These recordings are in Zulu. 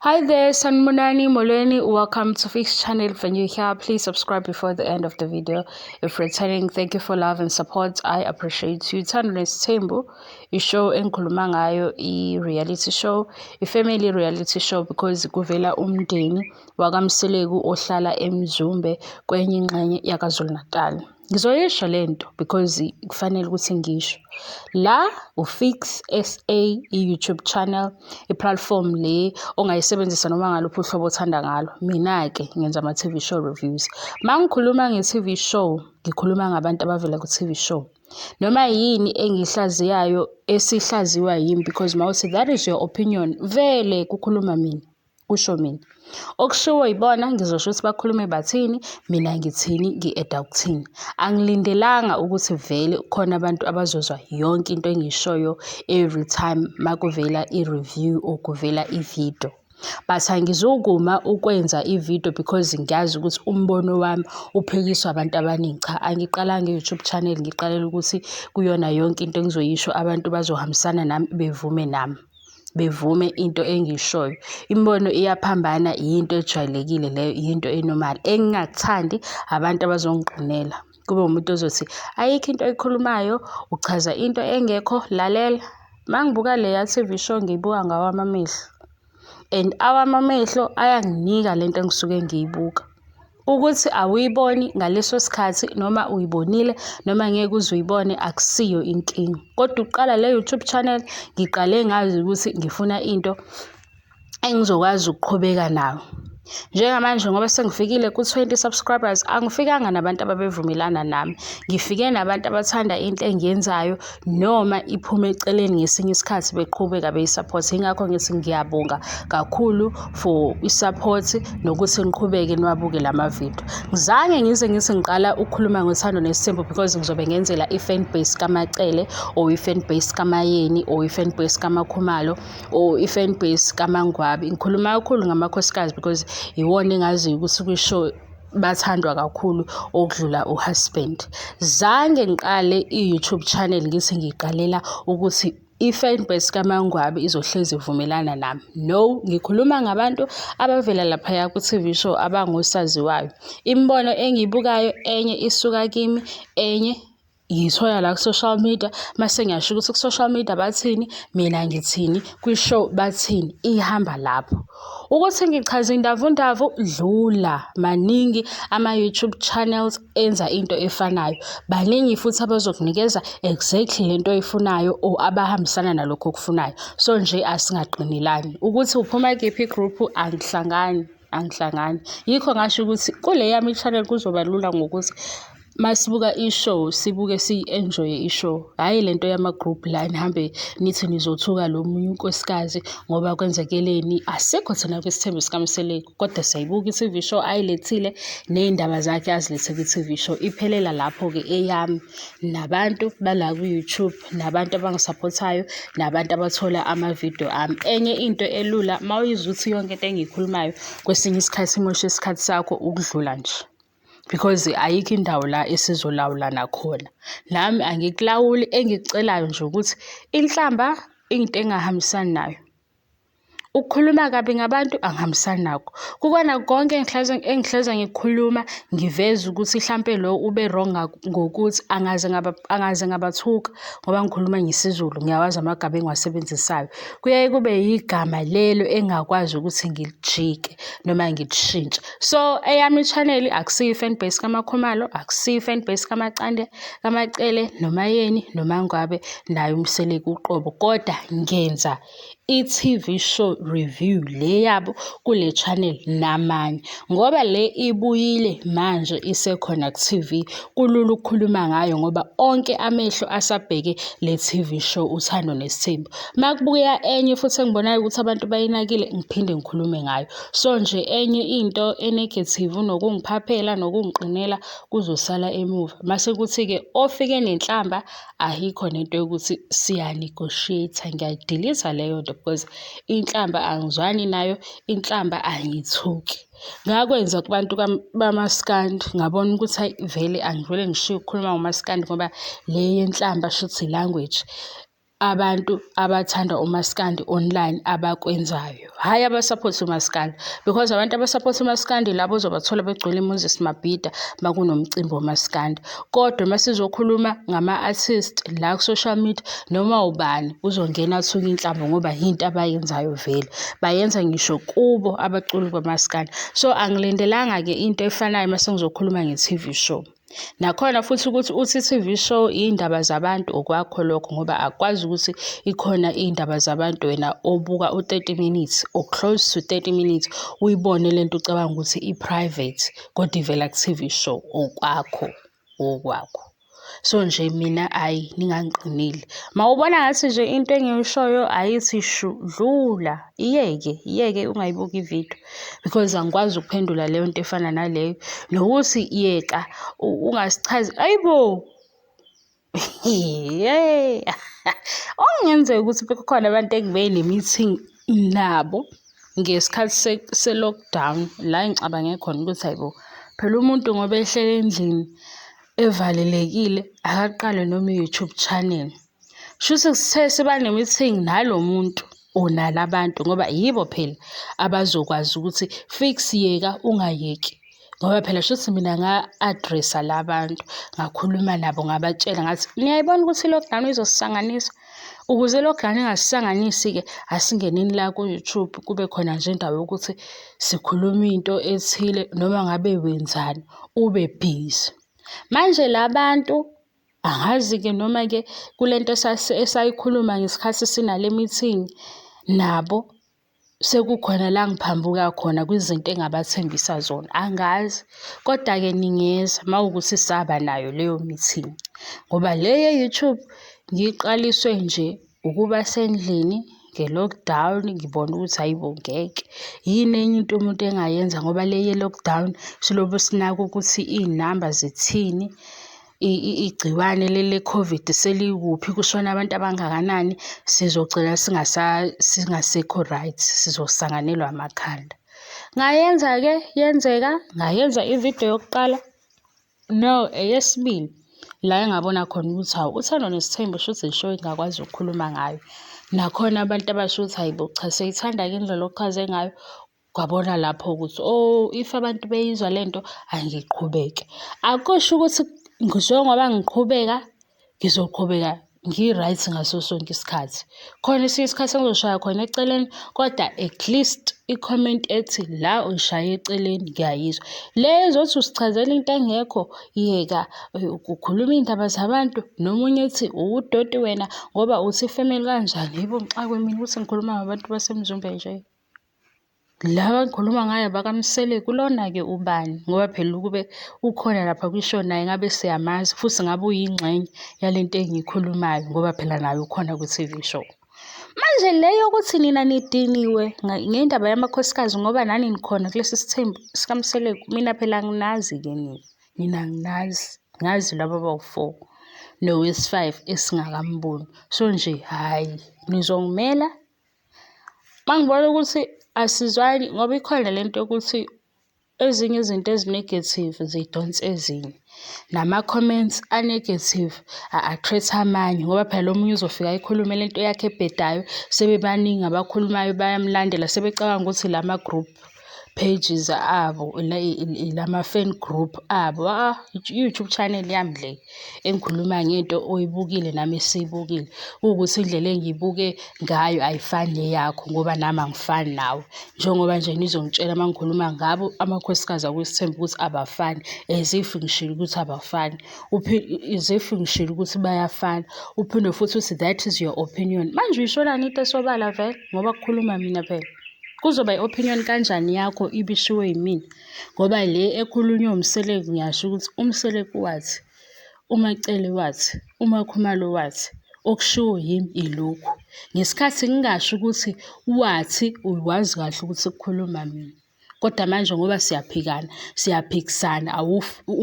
Hi there, Sanmunani Molweni. Welcome to Fix Channel for new here. Please subscribe before the end of the video. If returning, thank you for love and support. I appreciate you. Thandless Tembo, you show engikhuluma ngayo i reality show, i family reality show because kuvela umndeni wakamseleku ohlala emzumbe kwenye ingxenye yakazulu Natal. Ngizoyisho le nto because kufanele ukuthi ngisho la ufix sa i-youtube channel i-platform le ongayisebenzisa noma ngaluphi uhlobo othanda ngalo mina-ke ngenza ama-tv show reviews ma ngikhuluma nge-tv show ngikhuluma ngabantu abavela ku-tv show noma yini engiyihlaziyayo esihlaziwa yimi because mawuthi that is your opinion vele kukhuluma mina kusho mina okushiwo yibona ngizosho ukuthi bakhulume bathini mina ngithini ngi-eda ukuthini angilindelanga ukuthi vele khona abantu abazozwa yonke into engiyishoyo every time makuvela i-review or kuvela i-video but angizukuma ukwenza i-video because ngiyazi ukuthi umbono wami uphikiswa abantu abaningi cha angiqalanga i-youtube channel ngiqalela ukuthi kuyona yonke into engizoyisho abantu bazohambisana nami bevume nami bevume into engiyishoyo. Imibono iyaphambana yinto ejwayelekile leyo, yinto e-normal. Engingakuthandi abantu abazongigqinela. Kube umuntu ozothi ayikho into oyikhulumayo, uchaza into engekho, lalela. Uma ngibuka leya T_V show ngiyibuka ngawami amehlo and awami amehlo ayanginika le nto engisuke ngiyibuka. Ukuthi awuyiboni ngaleso sikhathi noma uyibonile noma ngeke uze uyibone akusiyo inkinga. Kodwa ukuqala le YouTube channel ngiqale ngazi ukuthi ngifuna into engizokwazi ukuqhubeka nayo. Njengamanje ngoba sengifikile ku-20 subscribers angifikanga nabantu ababevumelana nami. Ngifike nabantu abathanda into engiyenzayo noma iphume eceleni ngesinye isikhathi beqhubeka beyisaphothe ingakho ngithi ngiyabonga kakhulu for i-support nokuthi ngiqhubeke niwabuke la mavidiyo ngizange ngize ngithi ngiqala ukukhuluma ngothando nesithembu because ngizobe ngenzela i-fan base kamacele or i-fan base kamayeni or i-fan base kamakhumalo or i-fan base kamangwabi ngikhuluma kakhulu ngamakhosikazi because iwona engaziyo ukuthi kwisho bathandwa kakhulu okudlula uhusband zange ngiqale i-youtube channel ngithi ngiqalela ukuthi i-fanbase kamangwabi izohlezi ivumelana nami no ngikhuluma ngabantu abavela laphaya ku-tv show abangosaziwayo imibono engiyibukayo enye isuka kimi enye ngiyithola la ku-social media mase ngiyasho ukuthi ku-social media bathini mina ngithini kwi-show bathini ihamba lapho ukuthi ngichaza indavundavu dlula maningi ama-youtube channels enza into efanayo baningi futhi abazokunikeza exactly le nto oyifunayo or abahambisana nalokho okufunayo so nje asingaqinelani ukuthi uphuma kephi i-group angihlangani angihlangani yikho ngasho ukuthi kule yami i-channel kuzoba lula ngokuthi masibuka i-show sibuke siyi-enjoye i-show hhayi le nto yama-group la nihambe nithi nizothuka lo munye unkosikazi ngoba kwenzekeleni asikho thina kwisithembu sikamseleku kodwa siyayibuka i-tv show ayilethile ney'ndaba zakhe azilethe kwi-tv show iphelela lapho-ke eyami nabantu bala kwi-youtube nabantu abangisaphothayo nabantu abathola amavidiyo ami. Enye into elula uma uyizwa ukuthi yonke into engiyikhulumayo kwesinye isikhathi imosha isikhathi sakho ukudlula nje because ayikho indawo la esizolawulana khona. Nami angikulawuli engikucelayo nje ukuthi inhlamba into engingahambisani nayo. Ukukhuluma kabi ngabantu angihambisani nakho. Kukona konke engihlezi ngikhuluma ngiveza ukuthi hlampe lo ube wrong ngokuthi angaze angaze ngabathuka ngoba ngikhuluma ngesiZulu, ngiyawazi amagama engiwasebenzisayo. Kuyaye kube yigama lelo engingakwazi ukuthi ngilijike noma ngilishintshe. So, eyami i-channel akusiyo i-fan base kaMaKhumalo, akusiyo i-fan base kaMacande, kaMacele, noMayeni, noMaNgwabe naye uMseleku uqobo, koda ngenza. i-TV show review le yabo kule channel namanye ngoba le ibuyile manje isekhona ku-TV kulula ukukhuluma ngayo ngoba onke amehlo asabheke le TV show uthando nesithembu uma kubuya enye futhi engibonayo ukuthi abantu bayinakile ngiphinde ngikhulume ngayo so nje enye into enegative nokungiphaphela nokungiqinela kuzosala emuva mase kuthi-ke ofike nenhlamba Ayikho nento yokuthi siya-negotiate-a, ngiyayidiliza leyo nto because inhlamba angizwani nayo, inhlamba angiyithuki. Ngakwenza kubantu bamaskandi ngabona ukuthi hhayi vele angivele ngishiye ukukhuluma ngomaskandi ngoba le yenhlamba shuthi i-language abantu abathanda umaskandi online abakwenzayo. hhayi abasaphothe umaskandi because abantu abasaphothe umaskandi labo ozobathola begcwele imoses mabhida uma kunomcimbi womaskandi kodwa uma sizokhuluma ngama-artist la ku-social media noma ubani uzongena athuke inhlamba ngoba yinto abayenzayo vele bayenza ngisho kubo abaculi bamaskandi so angilindelanga-ke into efanayo uma sengizokhuluma nge-tv show Nakhona futhi ukuthi uthi i-T_V show iy'ndaba zabantu okwakho lokho ngoba akukwazi ukuthi ikhona iy'ndaba zabantu wena obuka u-thirty minutes or close to thirty minutes uyibone le nto ucabanga ukuthi i-private kodwa ivela ku-T_V show okwakho okwakho. So nje mina ayi ningangiqinile, mawubona ngathi nje into engiyishoyo ayithi shu, dlula. Iyeke, iyeke ungayibuki ividiyo because angikwazi ukuphendula leyo nto efana naleyo. Nokuthi yeka ungasichazi, ayibo! Hheyi! Okungenzeka ukuthi bekukhona abantu engibe ne-meeting nabo ngesikhathi se-lockdown la engicabange khona ukuthi hhayi bo, phela umuntu ngoba ehleli endlini evalelekile akaqale noma i-YouTube channel. Shuthi sithe siba ne-meeting nalo muntu or nala bantu ngoba yibo phela abazokwazi ukuthi fix yeka ungayeki ngoba phela shuthi mina nga-address-a la bantu ngakhuluma nabo ngabatshela ngathi niyayibona ukuthi i-lockdown izosisanganisa ukuze i-lockdown ingasisanganisi-ke asingeneni la ku-youtube kube khona nje indawo yokuthi sikhuluma into ethile noma ngabe wenzani ube busy manje la bantu Angazi-ke noma-ke kule nto esayikhuluma ngesikhathi sinale meeting nabo sekukhona la ngiphambuka khona kwizinto engabathembisa zona angazi kodwa-ke ningeza uma wukuthi saba nayo leyo meeting ngoba le ye-YouTube ngiyiqaliswe nje Ukuba sendlini nge-lockdown ngibone ukuthi hhayi bo ngeke. Yini enye into umuntu engayenza ngoba le ye-lockdown silobe sinaka ukuthi iy'namba zithini, igciwane le-COVID selikuphi, kushone abantu abangakanani, sizogcina singasekho right, sizosanganelwa amakhanda. Ngayenza-ke yenzeka, ngayenza ividiyo yokuqala. No, eyesibili la engabona khona ukuthi hawu uthando nesithembu shuthi yisho engakwazi ukukhuluma ngayo. Nakhona abantu abasho ukuthi hhayi bo cha seyithanda-ke indlela ochaze ngayo, kwabona lapho ukuthi oh if abantu beyizwa le nto angiqhubeke. Akusho ukuthi njengoba ngiqhubeka ngizoqhubeka ngi-right ngaso sonke isikhathi. Khona esinye isikhathi engizoshaya khona eceleni kodwa at least ikhomenti ethi la uyishaye eceleni ngiyayizwa. Le ezothi usichazela into engekho yeka ukhuluma iy'ndaba zabantu nomunye ethi uwudoti wena ngoba uthi ifemeli kanjani. Hhayi bo ngixakwe mina ukuthi ngikhuluma ngabantu baseMzumbe nje. Laba engikhuluma ngayo bakaMseleku lona-ke ubani ngoba phela ukube ukhona lapha kwisho naye ngabe siyamazi futhi ngabe uyingxenye yale nto engiyikhulumayo ngoba phela naye ukhona kwi-TV show. Manje le yokuthi nina nidiniwe ngendaba yamakhosikazi ngoba nani nikhona kulesi sithembu sikaMseleku mina phela anginazi-ke nina, nina anginazi ngazi laba bawu-four nowesi-five esingakamboni so nje hhayi nizongimela Uma ngibona ukuthi asizwani ngoba ikhona le nto yokuthi ezinye izinto ezi-negative zidonsa ezinye. Nama-comments a-negative a-attract-a amanye ngoba phela lo omunye uzofika ayikhulume le nto yakhe ebhedayo, sebebaningi abakhulumayo bayamlandela sebecabanga ukuthi la ma-group. pages abo lama-fan group abo. Ah, i-YouTube channel yami le engikhuluma ngento oyibukile nami esiyibukile. Kuwukuthi indlela engiyibuke ngayo ayifani neyakho ngoba nami angifani nawe. Njengoba nje nizongitshela uma ngikhuluma ngabo amakhosikazi akwesithembu ukuthi abafani as if ngishilo ukuthi abafani. As if ngishilo ukuthi bayafana. Uphinde futhi uthi that is your opinion. Manje uyisholani into esobala vele ngoba kukhuluma mina phela. Kuzoba i-opinion kanjani yakho ibishiwo yimina ngoba le ekhulunywa uMseleku ngiyasho ukuthi uMseleku wathi, uMaCele wathi, uMaKhumalo wathi, okushiwo yimi ilokhu. Ngesikhathi ngingasho ukuthi wathi uwazi kahle ukuthi kukhuluma mina. Kodwa manje ngoba siyaphikana, siyaphikisana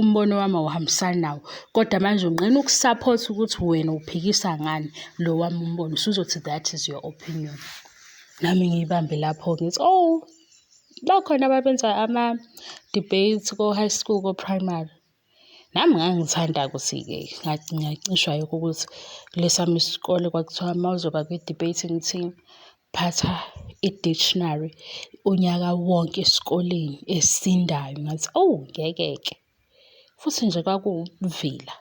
umbono wami awuhambisani nawo. Kodwa manje unqena ukusaphotha ukuthi wena uphikisa ngani lo wami umbono. Usuzothi that is your opinion. nami ngiyibambe lapho ngithi owu bakhona ababenza ama-debates ko-high school ko-primary nami ngangithanda ukuthi-ke ngacishwa yikho ukuthi kulesami isikole kwakuthiwa uma uzoba kwi-debate ngithi phatha i-dictionary unyaka wonke esikoleni esindayo ngathi owu ngeke-ke. Futhi nje kwakuwukuvila.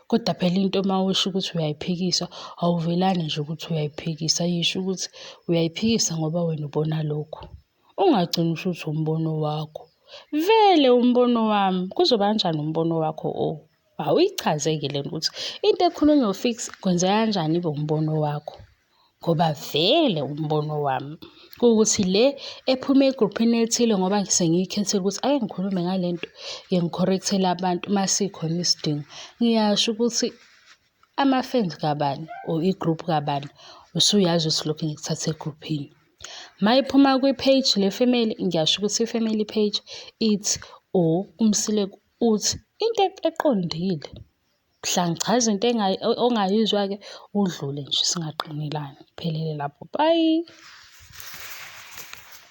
Kodwa phela into uma usho ukuthi uyayiphikisa, awuvelani nje ukuthi uyayiphikisa. Yisho ukuthi uyayiphikisa ngoba wena ubona lokhu. Ungagcini usho ukuthi umbono wakho. Vele umbono wami, kuzoba kanjani umbono wakho o? Awuyichaze-ke le nto ukuthi into ekhulunywa u-Fix kwenzeka kanjani ibe umbono wakho. ngoba vele umbono wami kuwukuthi le ephuma egruphini elithile ngoba sengiyikhethile ukuthi ake ngikhulume ngale nto ke ngikhorrekthele abantu uma sikhona isidingo. Ngiyasho ukuthi ama-fans kabani or i-group kabani usuyazi ukuthi lokhu ngikuthathe egruphini. Uma iphuma kwi-page le-family ngiyasho ukuthi i-family page ithi or uMsile uthi into eqondile. Mhlawumbe cha izinto ongayizwa-ke udlule nje singaqinelani, kuphelele lapho, bye.